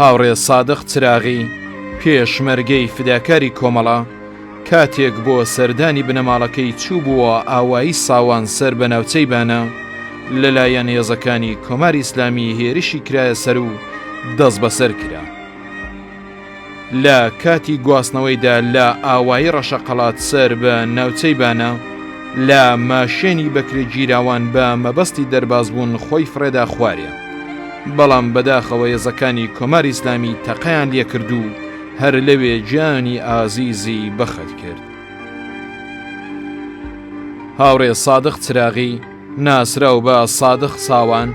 هاوڕێ سادق چراغی، پێشمەرگەی فیداکاری کۆمەڵە، کاتێک بۆ سەردانی بنەماڵەکەی چووبووە ئاوایی ساوان سەر بە ناوچەی بانە، لەلایەن هێزەکانی کۆماری ئیسلامی هێرشی کرایە سەر و دەستبەسەر کرا. لە کاتی گواستنەوەیدا لە ئاوایی ڕەشەقەڵات سەر بە ناوچەی بانە، لە ماشێنی بەکرێگیراوان بە مەبەستی دەربازبوون خۆی فڕێدا خوارێ. بەڵام بەداخەوە یەزەکانی کۆماری ئیسلامی تەقەیان لێکرد و هەر لەوێ گیانی ئازیزی بەخت کرد. هاوڕێ سادق چراغی ناسراو بە سادق ساوان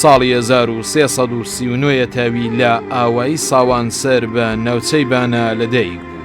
ساڵی 1339 تاوی لە ئاوایی ساوان سەر بە ناوچەی بانە لەدایک بوو.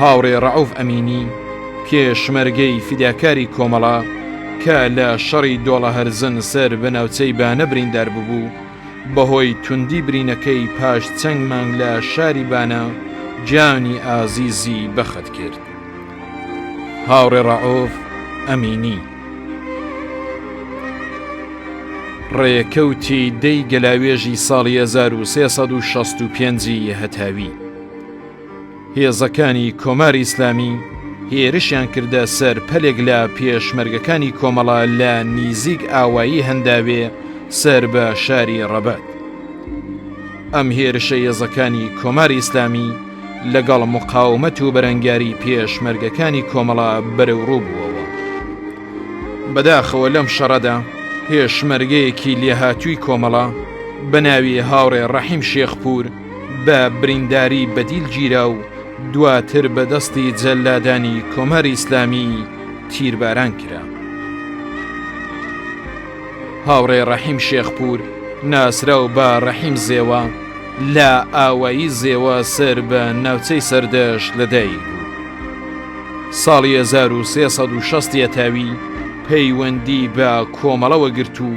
هاوڕێ ڕەئوف ئەمینی، پێشمەرگەی فیداکاری کۆمەڵە کە لە شەڕی دۆڵە هەرزن سەر بە ناوچەی بانە بریندار ببوو، بەهۆی توندی برینەکەی پاش چەند مانگ لە شاری بانە گیانی ئازیزی بەخت کرد. هاوڕێ ڕەئوف ئەمینی. ڕێکەوتی دەی گەلاوێژی ساڵی 1665 ی هەتاوی هێزەکانی کۆماری ئیسلامی هێرشیان کردە سەر پەلێک لە پێشمەرگەکانی کۆمەڵە لە نیزیک ئاوایی هەنداوێ سەر بە شاری ڕەبەت ئەم هێرشە یێزەکانی کۆماری ئیسلامی لەگەڵ مقاومەت و بەرەنگاری پێشمەرگەکانی کۆمەڵە بەرەوڕوو بووەوە. بەداخەوە لەم شەڕەدا پێشمەرگەیەکی لێهاتووی کۆمەڵە بە ناوی هاوڕێ ڕەحیم شێخپوور بە برینداری بەدیل گیرا و دواتر بە دەستی جەلادانی کۆماری ئیسلامی تیرباران کرا. هاوڕێ ڕەحیم شێخپوور ناسراو بە ڕەحیم زێوە لە ئاوایی زێوە سەر بە ناوچەی سەردەشت لە دایک بوو. ساڵی 1360 یەتاوی پەیوەندی بە کۆمەڵەوە گرت و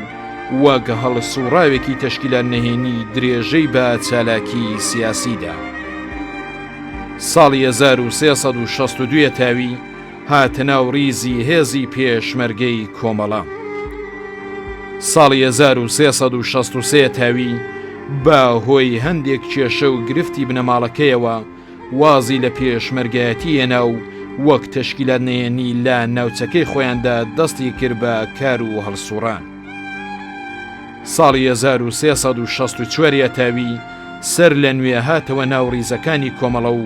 وەک هەڵسوڕاوێکی تەشکیلان نەهێنی درێژەی بە چالاکی سیاسیدا. ساڵی 1362 یەتاوی هاتە ناو ڕیزی هێزی پێشمەرگەی کۆمەڵە. ساڵی 1363 تاوی بە هۆی هەندێک کێشە و گرفتی بنەماڵەکەیەوە وازی لە پێشمەرگایەتی هێنا و وەک تەشکیلات نەیەنی لە ناوچەکەی خۆیاندا دەستی کرد بە کار و هەڵسوڕان. ساڵی 1364 تاوی سەر لە نوێ هاتەوە ناو ڕیزەکانی کۆمەڵە و،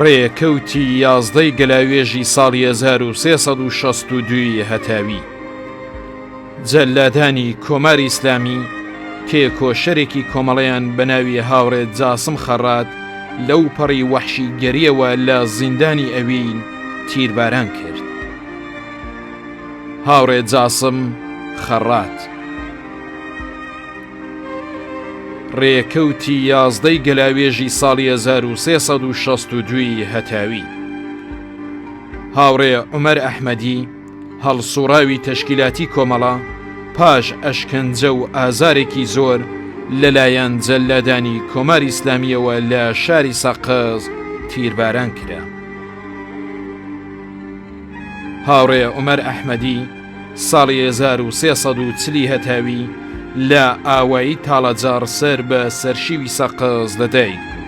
ڕێکەوتی یازدەی گەلاوێژی ساڵی 1362 هەتاوی جەلادانی کۆماری ئیسلامی تێکۆشەرێکی کۆمەڵیان بە ناوی هاوڕێت جاسم خەڕات لەو پەڕی وەحشی گەریەوە لە زیندانی ئەوین تیرباران کرد هاوڕێت جاسم خەڕات ڕێکەوتی یازدەی گەلاوێژی ساڵی 1962 هەتاوی هاوڕێ عمەر ئەحمەدی هەڵسوڕاوی تەشکیلاتی کۆمەڵە پاش ئەشکەنجە و ئازارێکی زۆر لەلایەن جەللادانی کۆماری ئیسلامیەوە لە شاری سەقز تیرباران کرا هاوڕێ عمەر ئەحمەدی ساڵی هەزار و سێ سەد و چلی هەتاوی لە ئاوایی تاڵەجاڕ سەر بە سەرشیوی سەقز لە دایک بوو.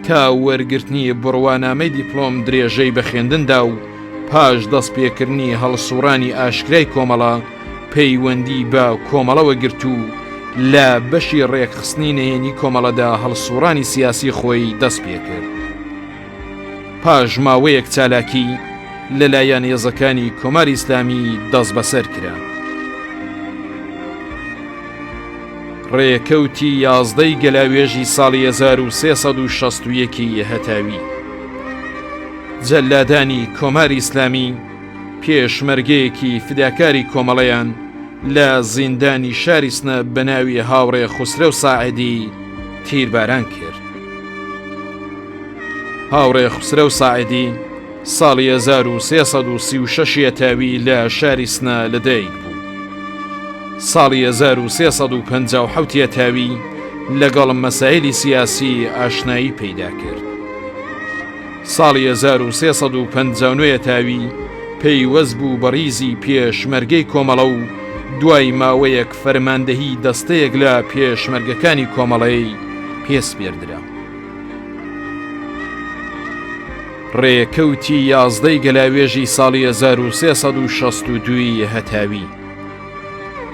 تا وەرگرتنی بڕوانامەی دیپلۆم درێژەی بە خوێندندا و پاش دەست پێکردنی هەڵسوڕانی ئاشکرای کۆمەڵە پەیوەندی بە کۆمەڵەوە گرت و لە بەشی ڕێکخستنی نەیەنی کۆمەڵەدا هەڵسوڕانی سیاسی خۆی دەست پێکرد. پاش ماوەیەک چالاکی لەلایەن هێزەکانی کۆماری ئیسلامی دەست بەسەر کرا. ڕێکەوتی یازدەی گەلاوێژی ساڵی 1960ەکی هەتاوی جەلادانی کۆماری ئیسلامی پێشمەرگەیەکی فداکاری کۆمەڵەیان لە زیندانی شاریسنە بەناوی هاوڕێ خوسرە و ساعدی تیرباران کرد. هاوڕێ خوسرەو ساعدی ساڵی 1336 یەتاوی لە شاری سنا لەدایک بوو ساڵی 1350 یەتاوی لەگەڵ مەسایلی سیاسی ئاشنایی پەیدا کرد ساڵی 1350 تاوی پەیوەست بوو بە ڕیزی پێشمەرگەی کۆمەڵە و دوای ماوەیەک فەرماندەهی دەستەیەک لە پێشمەرگەکانی کۆمەڵەی پێسپێردرا ڕێکەوتی یازدەی گەلاوێژی ساڵی 1962 هەتاوی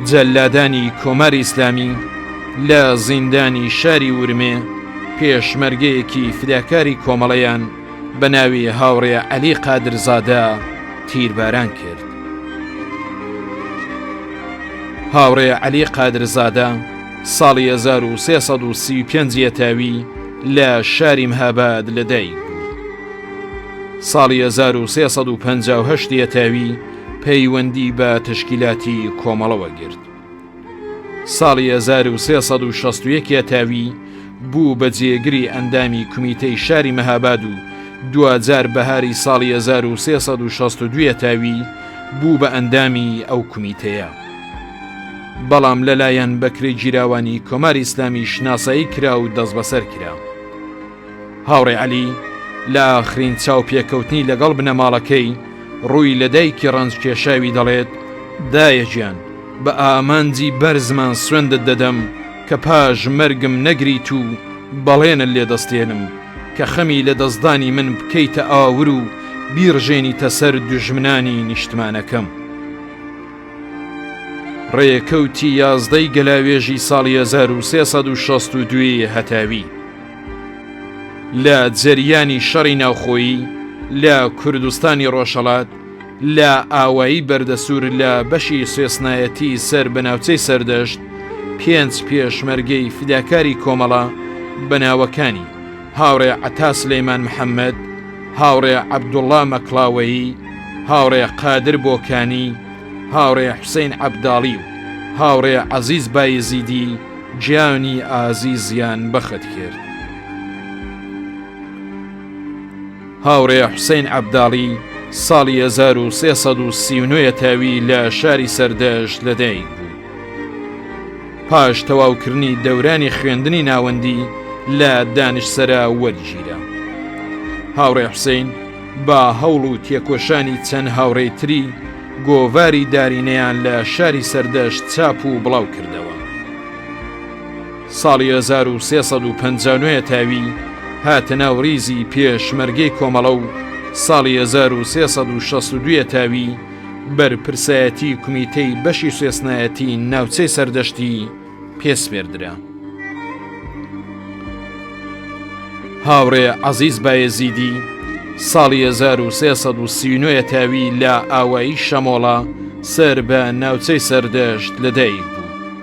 جەلادانی کۆماری ئیسلامی لە زیندانی شاری ورمێ پێشمەرگەیەکی فداکاری کۆمەڵەیان بە ناوی هاوڕێ عەلی قادرزادە تیرباران کرد هاوڕێ عەلی قادرزادە ساڵی هەزار و سێ سەد و سی و پێنج یەتاوی لە شاری مهاباد لەدایک بوو. ساڵی هەزار و سێ سەد و پەنج و هەشت یەتاوی پەیوەندی بە تشکیلاتی کۆمەڵەوە گرت. ساڵی 1361 یەتاوی بوو بە جێگری ئەندامی کومیتەی شاری مەهاباد و دوجار بەهاری ساڵی 1362 تاوی بوو بە ئەندامی ئەو کومیتەیە. بەڵام لەلایەن بەکرێگیراوانی کۆماری ئیسلامی شناسایی کرا و دەستبەسەر کرا. هاوڕێ عەلی لە ئاخرین چاوپێکەوتنی لەگەڵ بنەماڵەکەی ڕووی لە دایکی ڕەنج کێشاوی دەڵێت دایەجیان بە ئامانجی بەرزمان سوێندت دەدەم کە پاش مەرگم نەگریت و بەڵێنە لێ دەستێنم کە خەمی لە دەستدانی من بکەیتە ئاور و بیڕژێنیتە سەر دوژمنانی نیشتمانەکەم. ڕێکەوتی یازدەی گەلاوێژی ساڵی 1962ی هەتاوی لە جەریانی شەڕی ناوخۆیی لە کوردستانی ڕۆژهڵات لە ئاوایی بەردەسوور لە بەشی سێسنایەتی سەر بە ناوچەی سەردەشت پێنج پێشمەرگەی فیداکاری کۆمەڵە بەناوەکانی هاوڕێ عەتا سلەیمان محەمەد، هاوڕێ عەبدوڵڵا مەکڵاوەیی، هاوڕێ قادر بۆکانی، هاوڕێ حوسەین عەبداڵی و هاوڕێ عەزیز بایزیدی گیانی ئازیزیان بەخت کرد. هاوڕێ حوسەین عەبداڵی ساڵی 1339 تاوی لە شاری سەردەشت لەدایک بوو. پاش تەواوکردنی دەورانی خوێندنی ناوەندی لە دانشسەرا وەرگیرا هاوڕێ حوسین با هەوڵ و تێکۆشانی چەند هاوڕێی تری گۆڤاری دارینەیان لە شاری سەردەشت چاپ و بڵاو کردەوە ساڵی 1950 تاوی هاتە ناو ریزی پێشمەرگەی کۆمەڵە و ساڵی 1962 تاوی بەرپرسایەتی کومیتەی بەشی سوێسنایەتی ناوچەی سەردەشتی پێسپێردرا. هاوڕێ عەزیز بایەزیدی ساڵی 1939 تاوی لە ئاوایی شەمۆڵە سەر بە ناوچەی سەردەشت لەدایک بوو.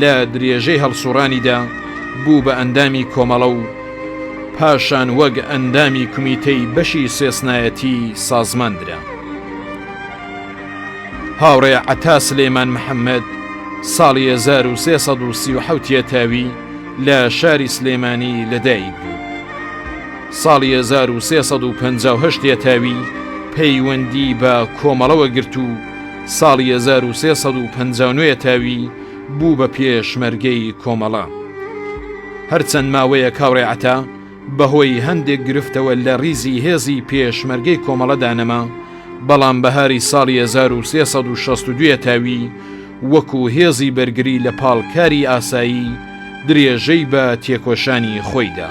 لە درێژەی هەڵسوڕانیدا بوو بە ئەندامی کۆمەڵە و پاشان وەک ئەندامی کومیتەی بەشی سێسنایەتی سازمان درا. هاوڕێ عەتا سلێمان محەممەد ساڵی 1930 تاوی لە شاری سلێمانی لەدایک بوو. ساڵی 1950 تاوی پەیوەندی بە کۆمەڵەوە گرت و ساڵی هەزار و سێ سەد و پەنجا و نۆ تاوی بوو بە پێشمەرگەی کۆمەڵە. هەر چەند ماوەیەک هاوڕێ عەتا بە هۆی هەندێک گرفتەوە لە ڕیزی هێزی پێشمەرگەی کۆمەڵەدا نەما، بەڵام بەهاری ساڵی هەزار و سێ سەد و شەست و دوو تاوی وەکوو هێزی بەرگری لە پاڵ کاری ئاسایی درێژەی بە تێکۆشانی خۆی دا.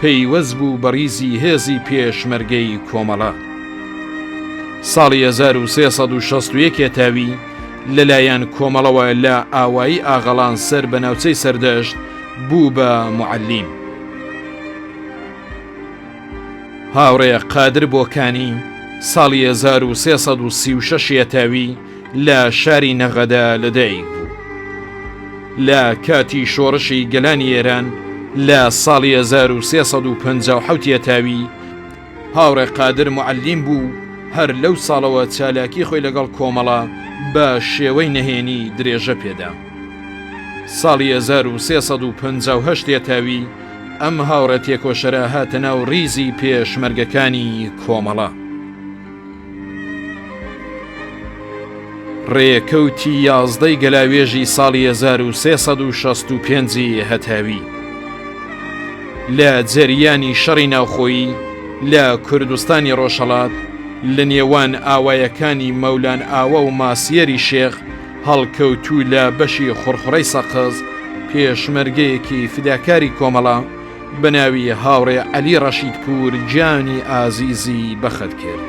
پەیوەست بوو بە ڕیزی هێزی پێشمەرگەی کۆمەڵە. ساڵی هەزار و سێ سەد و شەست و یەک هێتاوی لە لایەن کۆمەڵەوە لە ئاوایی ئاغەڵان سەر بە ناوچەی سەردەشت بوو بە موعەلیم. هاوڕێ قادر بۆکانی ساڵی هەزار و سێ سەد و سی و شەش هێتاوی لە شاری نەغەدە لەدایک بوو. لە کاتی شۆڕشی گەلانی ئێران لە ساڵی 1357 یەتاوی هاوڕێ قادر موعەلیم بوو، هەر لەو ساڵەوە چالاکی خۆی لەگەڵ کۆمەڵە بە شێوەی نەهێنی درێژە پێدا. ساڵی 1358 یەتاوی ئەم هاوڕێ تێکۆشەرە هاتە ناو ڕیزی پێشمەرگەکانی کۆمەڵە. ڕێکەوتی یازدەی گەلاوێژی ساڵی 1365 هەتاوی لە جەریانی شەڕی ناوخۆیی لە کوردستانی ڕۆژهڵات لە نێوان ئاوایەکانی مەولان ئاوە و ماسیەری شێخ هەڵکەوتوو لە بەشی خوڕخڕەی سەقز پێشمەرگەیەکی فداکاری کۆمەڵە بەناوی هاوڕێ عەلی ڕەشیدپوور گیانی ئازیزی بەخت کرد.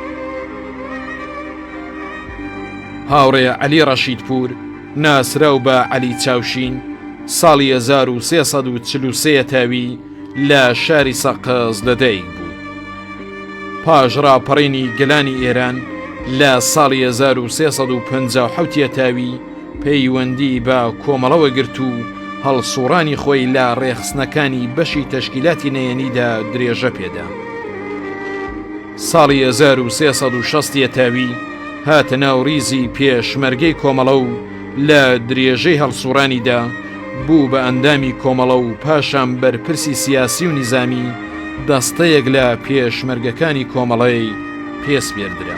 هاوڕێ عەلی ڕەشیدپوور ناسراو بە عەلی چاوشین ساڵی 1940 تاوی لە شاری سەقز لەدایک بوو. پاش ڕاپەڕینی گەلانی ئێران لە ساڵی 1950 تاوی پەیوەندی بە کۆمەڵەوە گرت و هەڵسوڕانی خۆی لە ڕێخستنەکانی بەشی تەشکیلاتی نەیەنیدا درێژە پێدا. ساڵی 1360 تاوی هاتە ناو ڕیزی پێشمەرگەی کۆمەڵە و لە درێژەی هەڵسوڕانیدا بوو بە ئەندامی کۆمەڵە و پاشان بەرپرسی سیاسی و نیزامی دەستەیەک لە پێشمەرگەکانی کۆمەڵەی پێسپێردرا.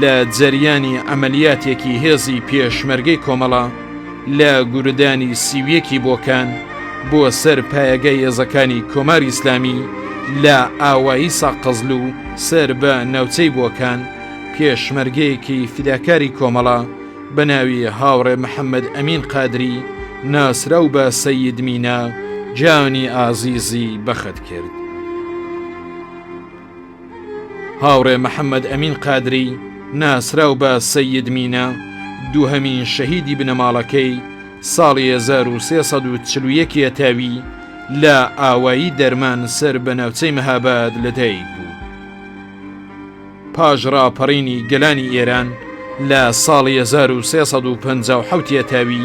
لە جەریانی عەمەلیاتێکی هێزی پێشمەرگەی کۆمەڵە لە گوردانی سیویەکی بۆکان بۆ سەر پایەگە هێزەکانی کۆماری ئیسلامی لە ئاوایی ساقەزل و سەر بە ناوچەی بۆکان پێشمەرگەیەکی فیداکاری کۆمەڵە بە ناوی هاوڕێ محەممەد ئەمین قادری ناسراو بە سەید مینا جانی ئازیزی بەخت کرد. هاوڕێ محەممەد ئەمین قادری ناسراو بە سید مینە دووهەمین شەهیدی بنەماڵەکەی ساڵی 1340ە تاوی لە ئاوایی دەرمان سەر بە ناوچەی مەهاباد لەدایک بوو پاش ڕاپەڕینی گەلانی ئێران لە ساڵی 1350 تاوی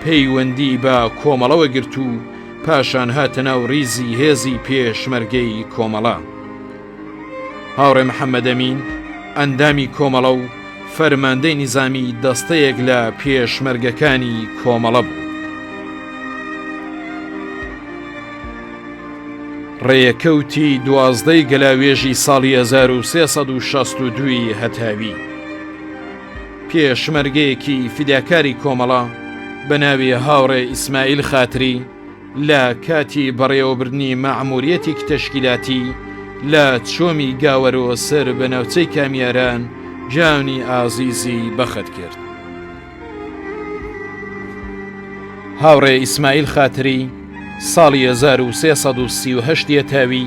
پەیوەندی بە کۆمەڵەوە گرت و پاشان هاتە ناو ریزی هێزی پێشمەرگەی کۆمەڵە هاوڕێ محەممەدەمین ئەندامی کۆمەڵە و فەرماندەی نیزامی دەستەیەک لە پێشمەرگەکانی کۆمەڵە بوو ڕێکەوتی دوازدەی گەلاوێژی ساڵی 1962 هەتاوی پێشمەرگەیەکی فیداکاری کۆمەڵە بە ناوی هاوڕێ ئیسماعیل خاتری لە کاتی بەڕێوەبردنی مەعموریەتێکی تەشکیلاتی لە چۆمی گاوەرۆ سەر بە ناوچەی کامیاران جانی ئازیزی بەخت کرد. هاوڕێ ئیسماعیل خاتری ساڵی 1338 یە تاوی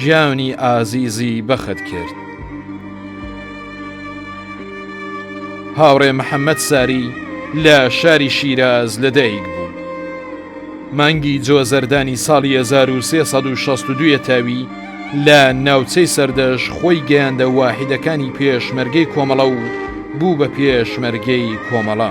گیانی ئازیزی بەخت کرد. هاوڕێ محەممەد ساری لە شاری شیراز لەدایک بوو. مانگی جۆزەردانی ساڵی 1962 تاوی لە ناوچەی سەردەش خۆی گەیاندە واحدەکانی پێشمەرگەی کۆمەڵە و بوو بە پێشمەرگەی کۆمەڵە.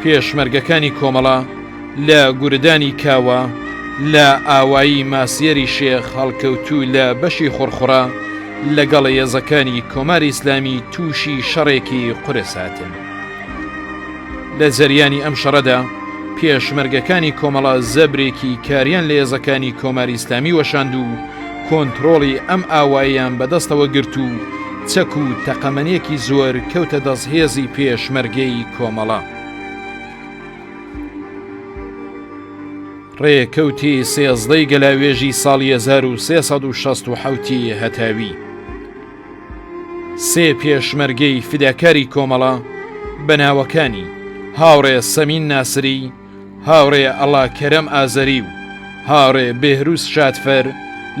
پێشمەرگەکانی کۆمەڵە لە گوردانی کاوە لە ئاوایی ماسیەری شێخ هەڵکەوتوو لە بەشی خڕخڕە لەگەڵ هێزەکانی کۆماری ئیسلامی تووشی شەڕێکی قورس هاتن. لە جەریانی ئەم شەڕەدا پێشمەرگەکانی کۆمەڵە زەبرێکی کاریان لە هێزەکانی کۆماری ئیسلامی وەشاند و کۆنتترۆڵی ئەم ئاواییان بەدەستەوە گرت و چەک و تەقەمەنێکی زۆر کەوتە دەست هێزی پێشمەرگەی کۆمەڵە. ڕێکەوتی سێزدەی گەلاوێژی ساڵی 1960 هەتاوی سێ پێشمەرگەی فداکاری کۆمەڵە بە ناوەکانی هاوڕێ سەمین ناسری هاوڕێ ئەڵا کەرەم ئازەری و هاڕێ بێهرووس شادفەر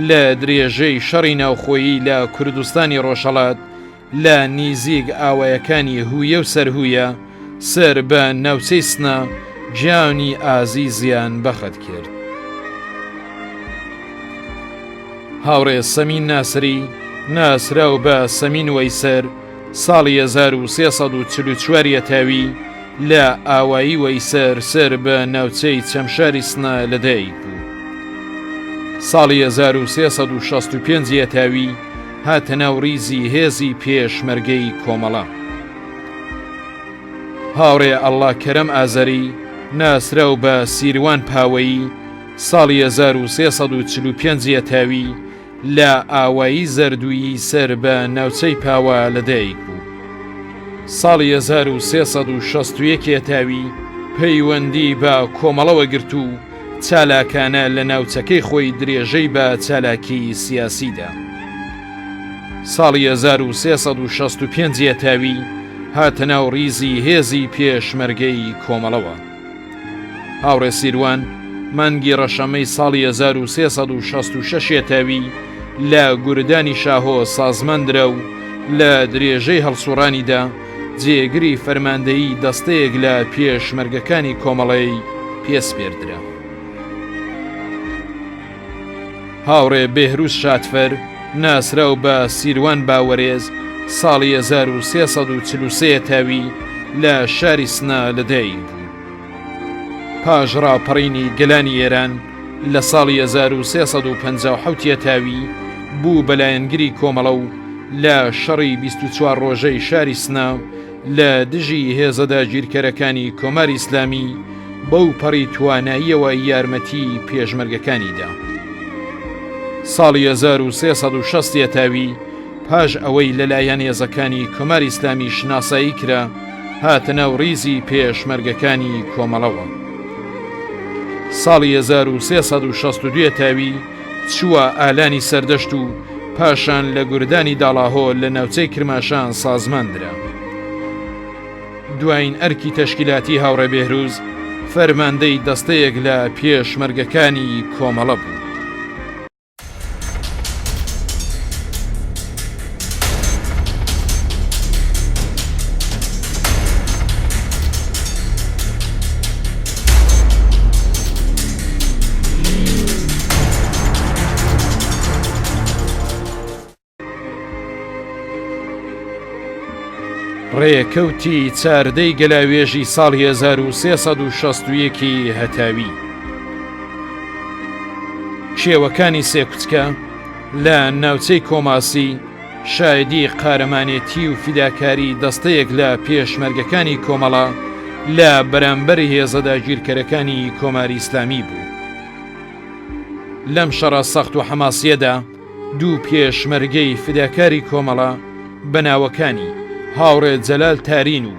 لە درێژەی شەڕی ناوخۆیی لە کوردستانی ڕۆژهڵات لە نیزیک ئاوایەکانی هویە و سەرهویە سەر بە ناوچەی سنە گیانی ئازیزیان بەخت کرد. هاوڕێ سەمین ناسری ناسراو بە سەمین وەیسەر ساڵی هەزار و سێ سەد و چل و چوار یەتاوی لە ئاوایی وەیسەر سەر بە ناوچەی چەمشاری سنە لەدایک بوو. ساڵی هەزار و سێ سەد و شەست و پێنج یەتاوی هاتە ناو ڕیزی هێزی پێشمەرگەی کۆمەڵە. هاوڕێ ئەڵڵا کەرەم ئازەری ناسراو بە سیروان پاوەیی ساڵی هەزار و سێ سەد و چل و پێنج یەتاوی لە ئاوایی زەردوویی سەر بە ناوچەی پاوا لە دایک بوو. ساڵی هەزار و سێ سەد و شەست و یەک هێتاوی پەیوەندی بە کۆمەڵەوە گرت و چالاکانە لە ناوچەکەی خۆی درێژەی بە چالاکی سیاسی دا. ساڵی هەزار و سێ سەد و شەست و پێنج هێتاوی هاتە ناو ڕیزی هێزی پێشمەرگەی کۆمەڵەوە. هاوڕێ سیروان مانگی ڕەشەمەی ساڵی هەزار و سێ سەد و شەست و شەش یەتاوی لە گوردانی شاهۆ سازماندرا و لە درێژەی هەڵسووڕانیدا جێگری فەرماندەیی دەستەیەک لە پێشمەرگەکانی کۆمەڵەی پێ سپێردرا. هاوڕێ بێهرووز شاتفەر ناسراو بە سیروان باوەرێز ساڵی 1343 ە تاوی لە شاری سنە لە دایک بوو. پاش ڕاپەڕینی گەلانی ئێران لە ساڵی 1350 تاوی بوو بەلایەنگری کۆمەڵە و لە شەڕی 24 ڕۆژەی شاری سنە لە دژی هێزە داگیرکەرەکانی کۆماری ئیسلامی بەو پەڕی تواناییەوە یارمەتی پێشمەرگەکانیدا. ساڵی 1360 یەتاوی پاش ئەوەی لەلایەن هێزەکانی کۆماری ئیسلامی شناسایی کرا هاتە ناو ڕیزی پێشمەرگەکانی کۆمەڵەوە. ساڵی 1362 یەتاوی چووە ئالانی سەردەشت و پاشان لە گوردانی داڵاهۆ لە ناوچەی کرماشان سازمان درا. دوایین ئەرکی تەشکیلاتی هاوڕێ بێهروز فەرماندەی دەستەیەک لە پێشمەرگەکانی کۆمەڵە بوو. ڕێکەوتی چاردەی گەلاوێژی ساڵ 1960ەکی هەتاوی شێوەکانی سێکوتکە لە ناوچەی کۆماسی شایەدی قارەمانێتی و فیداکاری دەستەیەک لە پێشمەرگەکانی کۆمەڵە لە بەرامبەر هێزە داگیرکەرەکانی کۆماری ئیسلامی بوو. لەم شەڕە سەخت و حەماسیەدا دوو پێشمەرگەی فیداکاری کۆمەڵە بە ناوەکانی، هاوڕێ جەلال تارین و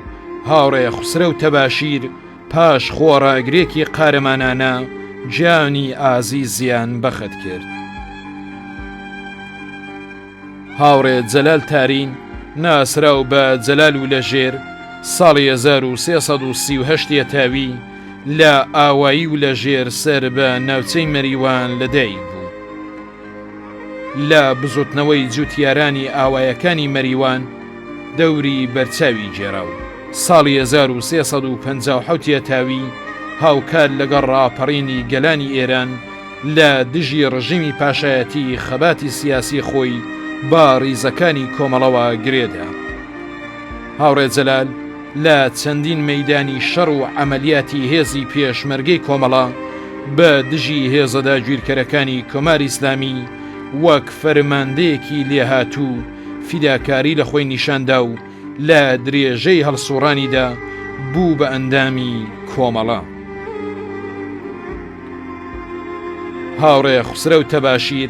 هاوڕێ خوسرەو تەباشیر، پاش خۆڕاگرێکی قارەمانانە گیانی ئازیزیان بەخت کرد. هاوڕێ جەلال تارین ناسراو بە جەلال و لە ژێر ساڵی 1330 تاوی لە ئاوایی و لە ژێر سەر بە ناوچەی مەریوان لەدایک بوو. لە بزوتنەوەی جوتیارانی ئاوایەکانی مەریوان دەوری بەرچاوی گێرا و ساڵی 1357 یەتاوی هاوکات لەگەڵ ڕاپەڕینی گەلانی ئێران لە دژی ڕژیمی پاشایەتی خەباتی سیاسی خۆی با ڕیزەکانی کۆمەڵەوە گرێدا. هاوڕێ جەلال، لە چەندین مەیدانی شەڕ و عەمەلیاتی هێزی پێشمەرگەی کۆمەڵە بە دژی هێزە داگیرکەرەکانی کۆماری ئیسلامی وەک فەرماندەیەکی لێهاتوو فیداکاری لە خۆی نیشان دا و لە درێژەی هەڵسووڕانیدا بوو بە ئەندامی کۆمەڵە. هاوڕێ خوسرەو تەباشیر،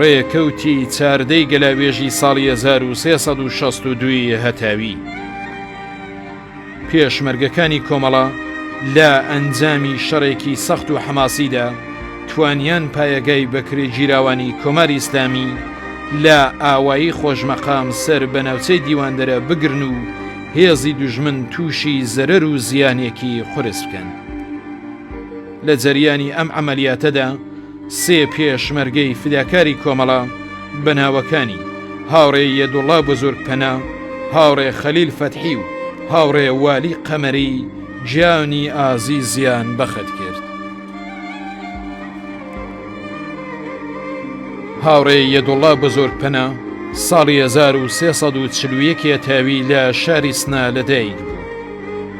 ڕێکەوتی چاردەی گەلاوێژی ساڵی 1362ی هەتاوی پێشمەرگەکانی کۆمەڵە لە ئەنجامی شەڕێکی سەخت و حەماسیدا توانیان پایەگای بەکرێ گیراوانی کۆماری ئیسلامی لە ئاوایی خۆشمەقام سەر بە ناوچەی دیواندەرە بگرن و هێزی دوژمن تووشی زەرەر و زیانێکی قورس بکەن. لە جەریانی ئەم عەمەلیاتەدا سێ پێشمەرگەی فیداکاری کۆمەڵە بە ناوەکانی، هاوڕێ یەدوڵا بزورگ پەنا، هاوڕێ خەلیل فەتحی و هاوڕێ والی قەمەری گیانی ئازیزیان بەخت کرد. هاوڕێ یەدوڵا بزورگ پەنا ساڵی 1341 ی تاوی لە شاری سنە لەدایک بوو.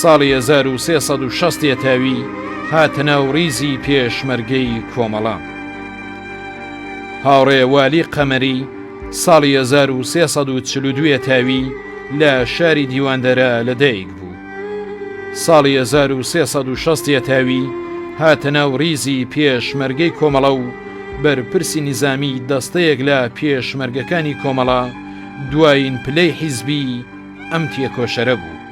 ساڵی هەزار و سێ سەد و شەست یەتاوی هاتە ناو ڕیزی پێشمەرگەی کۆمەڵە. هاوڕێ والی قەمەری ساڵی هەزار و سێ سەد و چل و دوێ تاوی لە شاری دیواندەرە لە دایک بوو. ساڵی هەزار و سێ سەد و شەست یەتاوی هاتە ناو ڕیزی پێشمەرگەی کۆمەڵە و بەرپرسی نیزامی دەستەیەک لە پێشمەرگەکانی کۆمەڵە دوایین پلەی حیزبی، ئەم تێکۆشەرە بوو.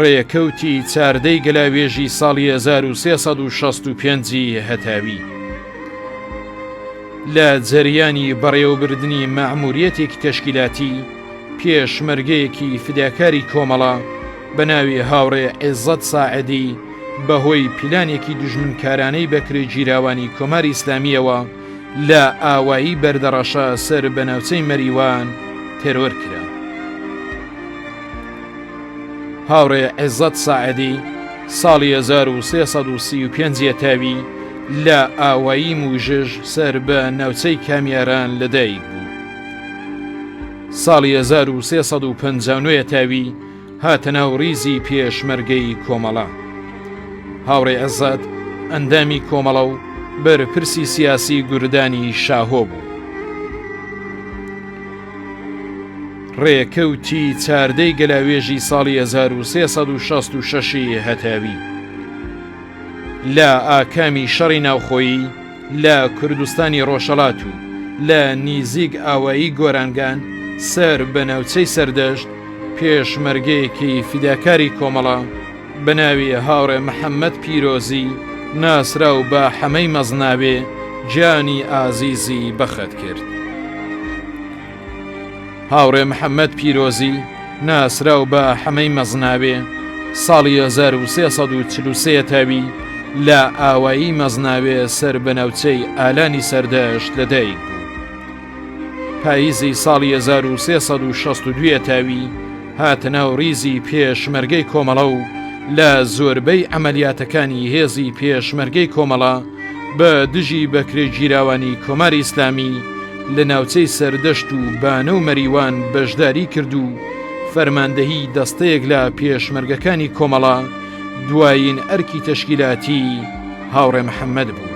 ڕێکەوتی چاردەی گەلاوێژی ساڵی 1365 ی هەتاوی لە جەریانی بەڕێوەبردنی مەعموریەتێکی تەشکیلاتی پێشمەرگەیەکی فداکاری کۆمەڵە بە ناوی هاوڕێ عێزەت ساعدی بەهۆی پیلانێکی دوژمنکارانەی بەکرێگیراوانی کۆماری ئیسلامیەوە لە ئاوایی بەردەڕەشە سەر بە ناوچەی مەریوان تێرۆر کرا. هاوڕێ عێزەت ساعدی ساڵی 1335 یەتاوی لە ئاوایی موژژ سەر بە ناوچەی کامیاران لەدایک بوو. ساڵی 1350 تاوی هاتە ناو ڕیزی پێشمەرگەی کۆمەڵە. هاوڕێ ئەزاد ئەندامی کۆمەڵە و بەرپرسی سیاسی گوردانی شاهۆ بوو. ڕێکەوتی چاردەی گەلاوێژی ساڵی 1366 هەتاوی لە ئاکامی شەڕی ناوخۆیی، لە کوردستانی ڕۆژهەڵات و لە نیزیک ئاوایی گۆرانگان سەر بە ناوچەی سەردەشت پێشمەرگەیەکی فیداکاری کۆمەڵە بە ناوی هاوڕێ محەممەد پیرۆزی ناسراو بە حەمەی مەزناوێ گیانی ئازیزی بەخت کرد. هاوڕێ محەممەد پیرۆزی ناسراو بە حەمەی مەزناوێ ساڵی 1343 تاوی لە ئاوایی مەزناوێ سەر بە ناوچەی ئالانی سەردەشت لەدایک بوو پاییزی ساڵی 1362 تاوی هاتە ناو ریزی پێشمەرگەی کۆمەڵە و لە زۆربەی عەمەلیاتەکانی هێزی پێشمەرگەی کۆمەڵە بە دژی بەکرێگیراوانی کۆماری ئیسلامی لە ناوچەی سەردەشت و بانە و مەریوان بەشداری کرد و فەرماندەهی دەستەیەک لە پێشمەرگەکانی کۆمەڵە دوایین ئەرکی تەشکیلاتی هاوڕێ محەمەد بوو.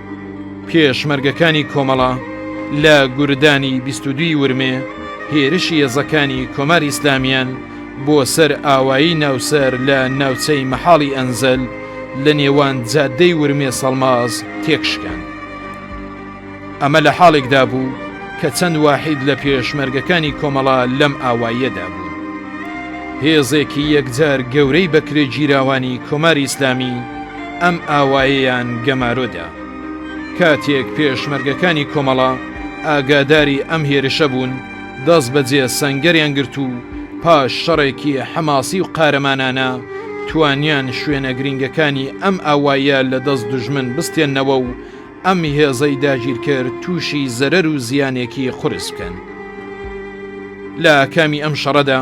پێشمەرگەکانی کۆمەڵە لە گوردانی بیست و دووی ورمێ هێرشی هێزەکانی کۆماری ئیسلامیان بۆ سەر ئاوایی ناوسەر لە ناوچەی مەحاڵی ئەنزەل لە نێوان جادەی ورمێ سەڵماز تێکشکان. ئەمە لە حاڵێکدا بوو کە چەند واحید لە پێشمەرگەکانی کۆمەڵە لەم ئاواییەدا بوو. هێزێکی یەکجار گەورەی بەکرێگیراوانی کۆماری ئیسلامی، ئەم ئاوایەیان گەمارۆدا. کاتێک پێشمەرگەکانی کۆمەڵە ئاگاداری ئەم هێرشە بوون، دەست بەجێ سەنگەریان گرت و پاش شەڕێکی حەماسی و قارەمانانە توانیان شوێنە گرینگەکانی ئەم ئاوایە لە دەست دوژمن بستێننەوە و ئەم هێزەی داگیرکەر تووشی زەرەر و زیانێکی قورس بکەن. لە ئاکامی ئەم شەڕەدا،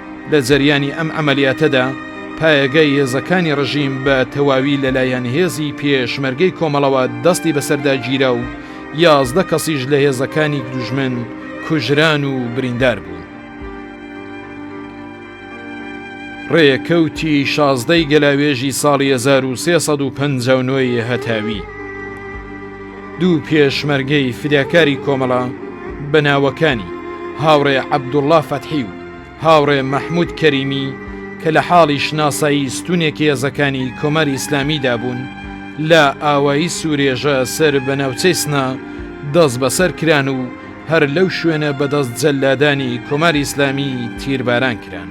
لە جەریانی ئەم عەمەلیاتەدا پایەگای هێزەکانی ڕژیم بە تەواوی لەلایەن هێزی پێشمەرگەی کۆمەڵەوە دەستی بەسەردا گیرا و یازدە کەسیش لە هێزەکانی دوژمن کوژران و بریندار بوون. ڕێکەوتی شازدەی گەلاوێژی ساڵی 1350 ی هەتاوی دوو پێشمەرگەی فداکاری کۆمەڵە بە ناوەکانی هاوڕێ عەبدوڵڵا فەتحی و هاوڕێ مەحمود کەریمی کە لە حاڵی شناسایی ستونێکی هێزەکانی کۆماری ئیسلامیدا بوون لە ئاوایی سورێژە سەر بە ناوچەی سنە دەست بەسەر کران و هەر لەو شوێنە بەدەست جەلادانی کۆماری ئیسلامی تیرباران کران.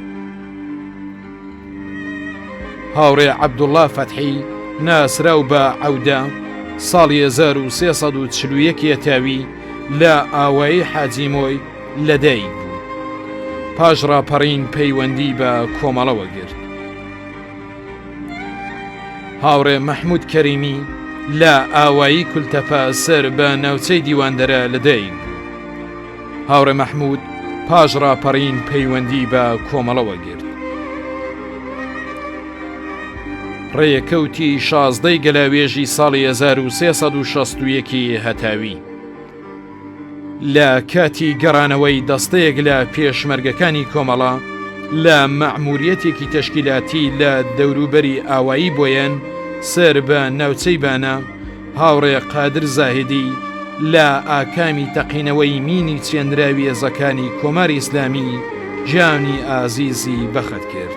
هاوڕێ عەبدوڵا فەتحی ناسراو بە عەودە ساڵی 1340 یەکێتاوی لە ئاوایی حاجی مۆی لەدایک بوو پاش ڕاپەڕین پەیوەندی بە کۆمەڵەوە گرت هاوڕێ مەحمود کەریمی لە ئاوایی کولتەپە سەر بە ناوچەی دیواندەرە لەدایک بوو هاوڕێ مەحمود پاش ڕاپەڕین پەیوەندی بە کۆمەڵەوە گرت ڕێکەوتی شازدەی گەلاوێژی ساڵی 1960 هەتاوی لە کاتی گەڕانەوەی دەستەیەک لە پێشمەرگەکانی کۆمەڵە لە مەعموریەتێکی تەشکیلاتی لە دەوروبەری ئاوایی بۆیەن سەر بە ناوچەی بانە هاوڕێ قادر زاهدی لە ئاکامی تەقینەوەی مینی چێنراوی هێزەکانی کۆماری ئیسلامی گیانی ئازیزی بەخت کرد.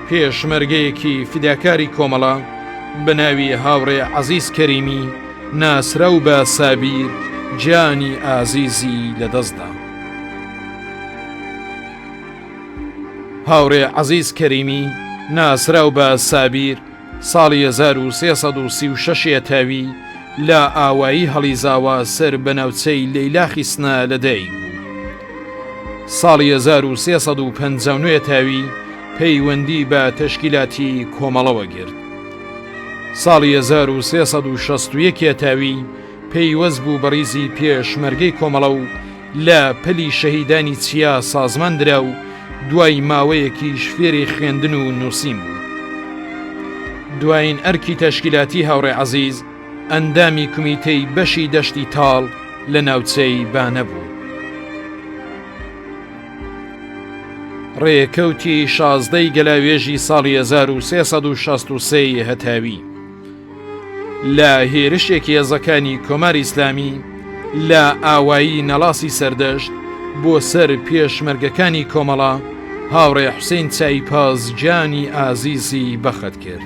پێشمەرگەیەکی فیداکاری کۆمەڵە بە ناوی هاوڕێ عەزیز کەریمی ناسراو بە سابیر گیانی ئازیزی لەدەستدا. هاوڕێ عەزیز کەریمی ناسراو بە سابیر ساڵی 1336 یەتاوی لە ئاوایی هەڵیزاوە سەر بە ناوچەی لەیلاخی سنە لەدایک بوو. ساڵی 1359 یەتاوی پەیوەندی بە تەشکیلاتی کۆمەڵەوە گرت. ساڵی 1361 یەتاوی پەیوەست بوو بەڕیزی پێشمەرگەی کۆمەڵە و لە پەلی شەهیدانی چیا سازمان درا و دوای ماوەیەکیش فێری خوێندن و نووسین بوو. دوایین ئەرکی تەشکیلاتی هاوڕێ عەزیز ئەندامی کومیتەی بەشی دەشتی تاڵ لە ناوچەی بانە بوو. ڕێکەوتی شازدە ی گەلاوێژی ساڵی 1363 ی هەتاوی لە هێرشێکی هێزەکانی کۆماری ئیسلامی لە ئاوایی نەڵاسی سەردەشت بۆ سەر پێشمەرگەکانی کۆمەڵە هاوڕێ حوسین چایپاز گیانی ئازیزی بەخت کرد.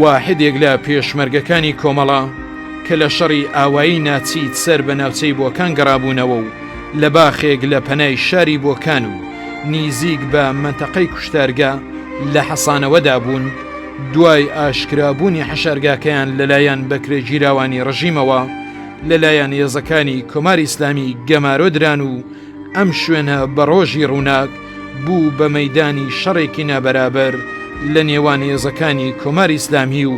واحدێک لە پێشمەرگەکانی کۆمەڵە کە لە شەڕی ئاوایی ناچی سەر بە ناوچەی بۆکان گەڕابوونەوە و لە باخێک لە پەنای شاری بۆکان و نیزیک بە مەنتەقەی کوشتارگە لە حەسانەوەدا بوون، دوای ئاشکرابوونی حەشارگاکەیان لەلایەن بەکرێگیراوانی ڕژیمەوە لەلایەن هێزەکانی کۆماری ئیسلامی گەمارۆ دران و، ئەم شوێنە بە ڕۆژی ڕووناک بوو بە مەدانی شەڕێکی نابەرابەر لە نێوان هێزەکانی کۆماری ئیسلامی و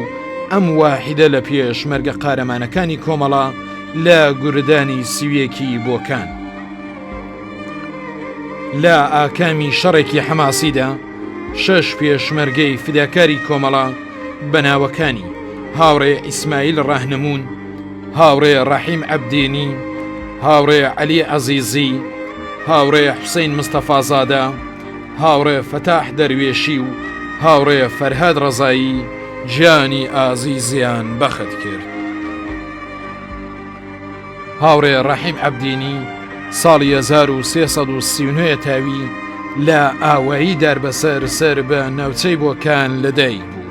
ئەم واحدە لە پێش مەرگە قارەمانەکانی کۆمەڵە لە گوردانی سویەکی بۆکان. لە ئاکامی شەڕێکی حەماسیدا شەش پێشمەرگەی فداکاری کۆمەڵە بەناوەکانی هاوڕێ ئیسماعیل ڕاهنمون هاوڕێ ڕەحیم عەبدینی، هاوڕێ عەلی عەزیزی، هاوڕێ حوسەین مستەفازادە، هاوڕێ فەتاح دەروێشی و هاوڕێ فەرهاد ڕەزایی گیانی ئازیزیان بەخت کرد. هاوڕێ ڕەحیم عەبدینی ساڵی 1339 تاوی لە ئاوایی داربەسەر سەر بە ناوچەی بۆکان لەدایک بوو.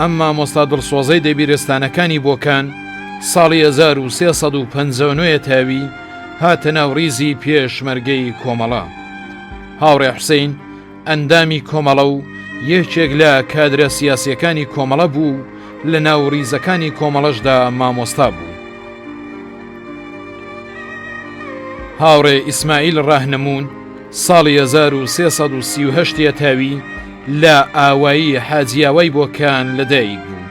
ئەم مامۆستا دڵسۆزەی دەبیرستانەکانی بۆکان ساڵی 1350 تاوی هاتە ناو ڕیزی پێشمەرگەی کۆمەڵە. هاوڕێ حوسین ئەندامی کۆمەڵە و یەکێک لە کادرە سیاسەکانی کۆمەڵە بوو و لە ناو ڕیزەکانی کۆمەڵەشدا مامۆستا بوو. هاوڕێ ئیسماعیل ڕاهنەمون ساڵی 1330 تاوی لە ئاوایی حاجی ئاوای بۆکان لە دایک بوو.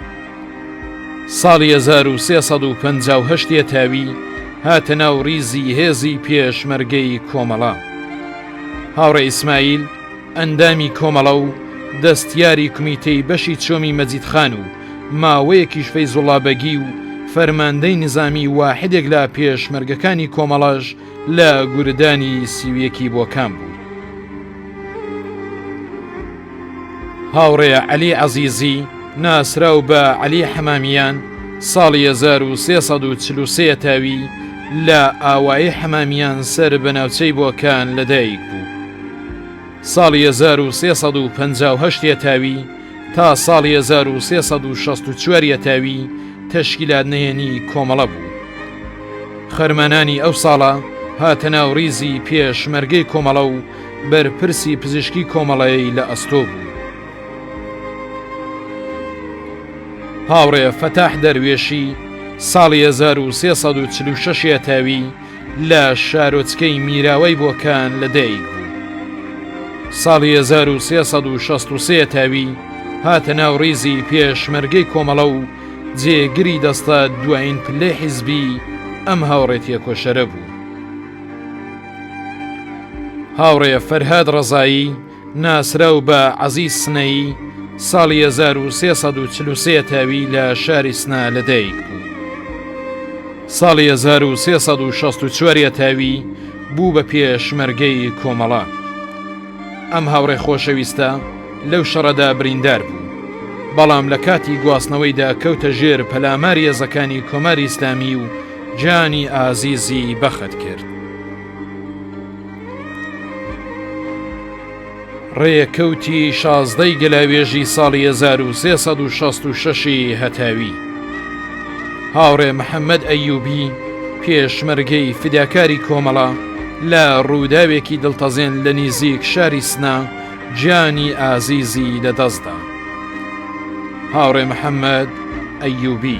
ساڵی هەزار و سێ سەد و پەنجا و هەشت یەتاوی هاتە ناو ڕیزی هێزی پێشمەرگەی کۆمەڵە. هاوڕێ ئیسماعیل ئەندامی کۆمەڵە و دەستیاری کومیتەی بەشی چۆمی مەجید خان و ماوەیەکیش فەیزوڵا بەگی و فەرماندەی نیزامی واحدێک لە پێشمەرگەکانی کۆمەڵەش لە گوردانی سی و یەکی بۆ کام بوو؟ هاوڕێ عەلی عەزیزی ناسراو بە عەلی حەمامیان ساڵی 1343 تاوی لە ئاوایی حەمامیان سەر بە ناوچەی بۆکان لەدایک بوو. ساڵی 1358 تاوی تا ساڵی هەزار و سێ سەد و شەست و چوار یەتاوی تەشکیلات نهێنی کۆمەڵە بوو. خەرمانانی ئەو ساڵە هاتە ناو ڕیزی پێشمەرگەی کۆمەڵە و بەرپرسی پزیشکی کۆمەڵەی لە ئەستۆ بوو. هاوڕێ فەتاح دەروێشی ساڵی هەزار و سێ سەد و چل و شەش یەتاوی لە شارۆچکەی میراوای بۆکان لە دایک بوو. ساڵی 1363 تاوی هاتە ناو ڕیزی پێشمەرگەی کۆمەڵە و جێگری دەستە دوایین پلەی حیزبی ئەم هاوڕێتیە کۆشەرە بوو. هاوڕێ فەرهاد ڕەزایی، ناسراو بە عەزیز سنەیی، ساڵی هەزار و سێ سەد و چل و سێ تاوی لە شاری سنە لەدایک بوو. ساڵی هەزار و سێ سەد و شەست و چوار یەتاوی بوو بە پێشمەرگەی کۆمەڵە. ئەم هاوڕێ خۆشەویستە لەو شەڕەدا بریندار بوو، بەڵام لە کاتی گواستنەوەیدا کەوتە ژێر پەلاماری هێزەکانی کۆماری ئیسلامی و گیانی ئازیزی بەخت کرد. ڕێکەوتی شازدەی گەلاوێژی ساڵی 1666ی هەتاوی هاوڕێ محەممەد ئەیوبی پێشمەرگەی فیداکاری کۆمەڵە لە ڕووداوێکی دڵتەزێن لە نیزیک شاری سنا گیانی ئازیزی لە دەستدا هاوڕێ محەممەد ئەیوبی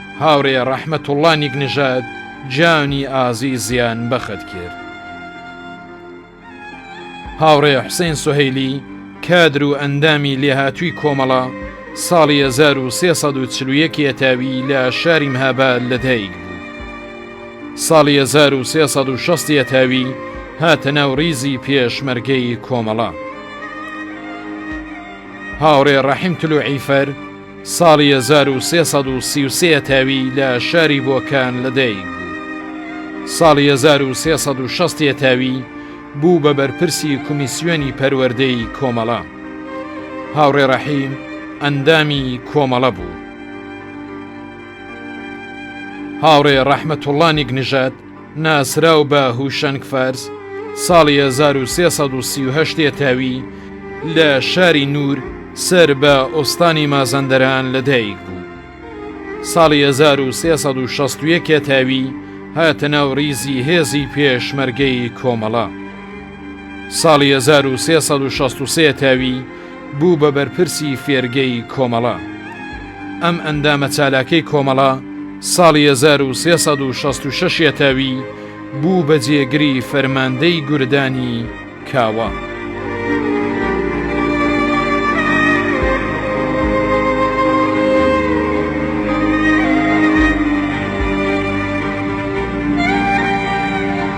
هاورێ ڕەحمەتوڵا نیک نژاد جانی ئازیزیان بەخت کرد. هاوڕێ حسین سهیلی کادر و ئەندامی لێهاتووی کۆمەڵە ساڵی 1940 یەتاوی لە شاری مهابا لەدایک بوو. ساڵی 1960 یەتاوی هاتە ناو ریزی پێشمەرگەی کۆمەڵە. هاوڕێ ڕەحیم تلوعیفەر ساڵی هەزار و سێ سەد و سی و سێ یەتاوی لە شاری بۆکان لە دایک بوو. ساڵی هەزار و سێ سەد و شەست یەتاوی بوو بە بەرپرسی کومیسیۆنی پەروەردەی کۆمەڵە. هاوڕێ ڕەحیم ئەندامی کۆمەڵە بوو. هاوڕێ ڕەحمەتوڵڵا نیک نژاد ناسراو بە هوشەنگ فارس ساڵی 1338 یەتاوی لە شاری نور سەر بە ئۆستانی مازەندەران لە دایک بوو. ساڵی 1360 یەتاوی هاتە ناو ریزی هێزی پێشمەرگەی کۆمەڵە. ساڵی 1363 تاوی بوو بە بەرپرسی فێرگەی کۆمەڵە. ئەم ئەندامە چالاکەی کۆمەڵە ساڵی هەزار و سێ سەد و شەست و شەش یەتاوی بوو بە جێگری فەرماندەی گوردانی کاوە.